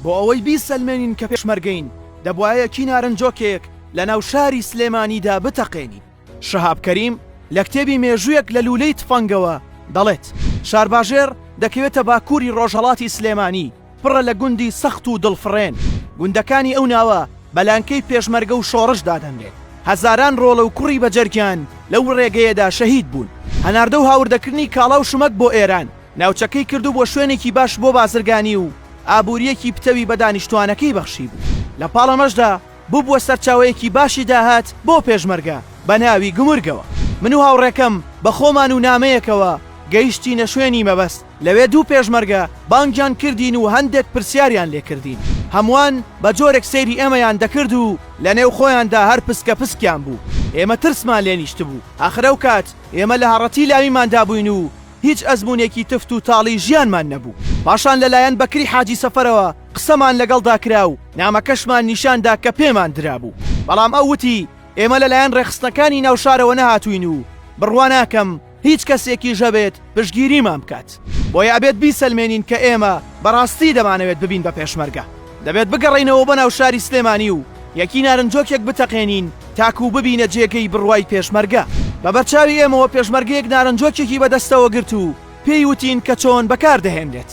بۆ ئەوەی بیسەلمێنین کە پێشمەرگەین، دەبوایە کی نارنجۆکێک لە ناو شاری سلێمانیدا بتەقێنین. شەهاب کەریم لە کتێبی مێژوویەک لە لوولەی تفەنگەوە دەڵێت، شارباژێڕ دەکەوێتە باکووری ڕۆژهەڵاتی سلێمانی، پڕە لە گوندی سەخت و دڵفڕێن. گوندەکانی ئەو ناوە بە لانکەی پێشمەرگە و شۆڕش دادەنرێت. هەزاران ڕۆڵە و کوڕی بەجەرگیان لەو ڕێگەیەدا شەهید بوون. هەناردە و هاوردەکردنی کاڵا و شمەک بۆ ئێران. ناوچەکەی کردبووە شوێنێکی باش بۆ بازرگانی و ئابوورییەکی پتەوی بە دانیشتووانەکەی بەخشیبوو، لە پاڵ ئەمەشدا ببووە سەرچاوەیەکی باشی داهات بۆ پێشمەرگە بە ناوی گومرگەوە. من و هاوڕێکەم بە خۆمان و نامەیەکەوە گەیشتینە شوێنی مەبەست، لەوێ دوو پێشمەرگە بانگیان کردین و هەندێک پرسیاریان لێ کردین، هەمووان بە جۆرێک سەیری ئێمەیان دەکرد و لە نێو خۆیاندا هەر پسکە پسکیان بوو، ئێمە ترسمان لێ نیشتبوو، ئاخر ئەو کات ئێمە لە هەڕەتی لاویماندا بووین و هیچ ئەزموونێکی تفت و تاڵی ژیانمان نەبوو. پاشان لەلایەن بەکری حاجی سەفەرەوە قسەمان لەگەڵدا کرا و نامەکەشمان نیشان دا کە پێمان درابوو. بەڵام ئەو وتی، ئێمە لەلایەن ڕێکخستنەکانی ناو شارەوە نەهاتووین و بڕوا ناکەم هیچ کەسێکیش هەبێت پشتگیریمان بکات. بۆیە ئەبێت بیسەلمێنین کە ئێمە بەڕاستی دەمانەوێت ببین بە پێشمەرگە. دەبێت بگەڕێینەوە بۆ ناو شاری سلێمانی و یەکی نارنجۆکێک بتەقێنین تاکوو ببینە جێگەی بڕوای پێشمەرگە. بە بەرچاوی ئێمەوە پێشمەرگەیەک نارنجۆکێکی بە دەستەوە گرت و پێی وتین کە چۆن بەکار دەهێنرێت.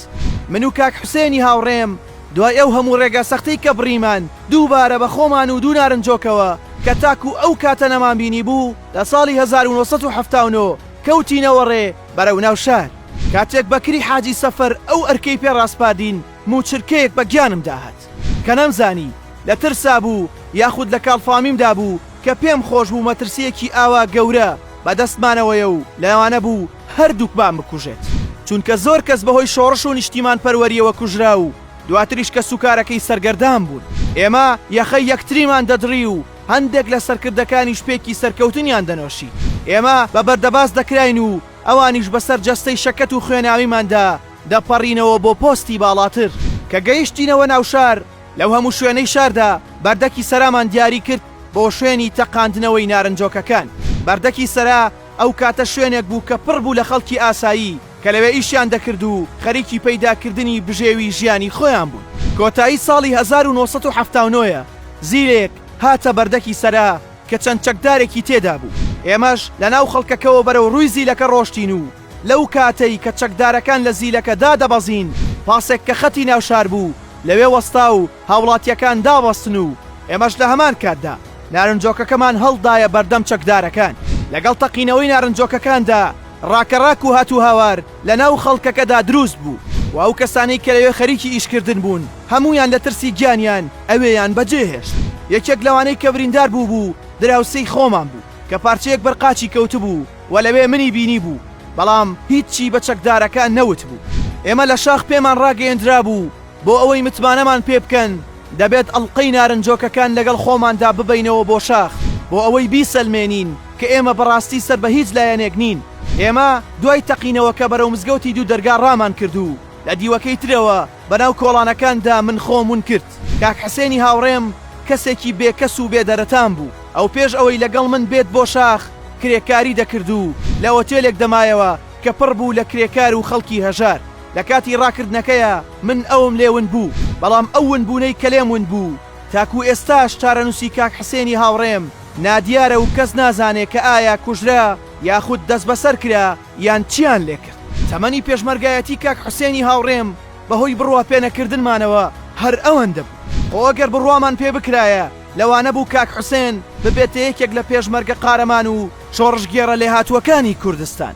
من و کاک حوسێنی هاوڕێم دوای ئەو هەموو ڕێگا سەختەی کە بڕیمان دووبارە بە خۆمان و دوو نارنجۆکەوە کە تاکوو ئەو کاتە نەمان بینی بوو لە ساڵی هەزار و نۆ سەد و حەفتا و نۆ کەوتینەوە ڕێ بەرەو ناو شار. کاتێک بەکری حاجی سەفەر ئەو ئەرکەی پێ ڕاسپاردین، مووچرکەیەک بە گیانم داهات کە نەمزانی لە ترسا بوو یاخود لە کاڵفامیمدا بوو کە پێم خۆش بوو مەترسییەکی ئاوا گەورە بە دەستمانەوەیە و لەوانە بوو هەردووکمان بکوژێت چونکە زۆر کەس بە هۆی شۆڕش و نیشتیمانپەروەرییەوە کوژرا و دواتریش کەسوکارەکەی سەرگەردان بوون. ئێمە یەخەی یەکتریمان دەدڕی و هەندێک لە سەرکردەکانیش پێکی سەرکەوتنیان دەنۆشی. ئێمە بە بەردەباس دەکراین و ئەوانیش بەسەر جەستەی شەکەت و خوێناویماندا، دەپەڕینەوە بۆ پۆستی باڵاتر. کە گەیشتینەوە ناو شار، لەو هەموو شوێنەی شاردا، بەردەکی سەرامان دیاری کرد بۆ شوێنی تەقاندنەوەی نارنجۆکەکان. بەردەکی سەرا ئەو کاتە شوێنێک بوو کە پڕ بوو لە خەڵکی ئاسایی کە لەوێ ئیشیان دەکرد و خەریکی پەیدا کردنی بژێوی ژیانی خۆیان بوون. کۆتایی ساڵی هەزار و نۆ سەد و حەفتا و نۆ زیلێک هاتە بەردەکی سەرا کە چەند چەکدارێکی تێدا بوو. ئێمەش لە ناو خەڵکەکەوە بەرەو ڕووی زیلەکە ڕۆشتین و لەو کاتەی کە چەکدارەکان لە زیلەکە دادەبەزین، پاسێک کە خەتی ناو شار بوو لەوێ وەستا و هاوڵاتییەکان دابەستن و ئێمەش لە هەمان کاتدا نارنجۆکەکەمان هەڵدایە بەردەم چەکدارەکان. لەگەڵ تەقینەوەی نارنجۆکەکاندا ڕاکەڕاک و هاتوهاوار لە ناو خەڵکەکەدا دروست بوو و ئەو کەسانەی کە لەوێ خەریکی ئیشکردن بوون هەموویان لە ترسی گیانیان ئەوێیان بەجێ هێشت. یەکێک لەوانەی کە بریندار بووبوو دراوسێی خۆمان بوو کە پارچەیەک بەر قاچی کەوتبوو، و لەوێ منی بینیبوو، بەڵام هیچی بە چەکدارەکە نەوتبوو. ئێمە لە شاخ پێمان ڕاگەیەندرابوو بۆ ئەوەی متمانەمان پێ بکەن دەبێت ئەڵقەی نارنجۆکەکان لەگەڵ خۆماندا ببەینەوە بۆ شاخ بۆ ئەوەی بیسەلمێنین کە ئێمە بەڕاستی سەر بە هیچ لایەنێک نین. ئێمە دوای تەقینەوەکە بەرەو مزگەوتی دوو دەرگا ڕامان کرد و لە دیوەکەی ترەوە، بەناو کۆڵانەکاندا من خۆم ون کرد. کاک حسێنی هاوڕێم کەسێکی بێکەس و بێدەرەتان بوو. ئەو پێش ئەوەی لەگەڵ من بێت بۆ شاخ، کرێکاری دەکرد و لە ئۆتێلێک دەمایەوە کە پڕ بوو لە کرێکار و خەڵکی هەژار. لە کاتی ڕاکردنەکەیا من ئەوم لێ ون بوو، بەڵام ئەو ونبوونەی کە لێم ون بوو، تاکوو ئێستاش چارەنووسی کاک حسێنی هاوڕێم نادیارە و کەس نازانێ کە ئایا کوژرا یاخود دەسبەسەر کرا، یان چیان لێ کرد؟ تەمەنی پێشمەرگایەتی کاک حوسێنی هاوڕێم بە هۆی بڕوا پێ نەکردنمانەوە هەر ئەوەندە بوو. خۆ گەر بڕوامان پێ بکرایە لەوانە بوو کاک حوسێن ببێتە یەکێک لە پێشمەرگە قارەمان و شۆڕشگێڕە لێهاتووەکانی کوردستان.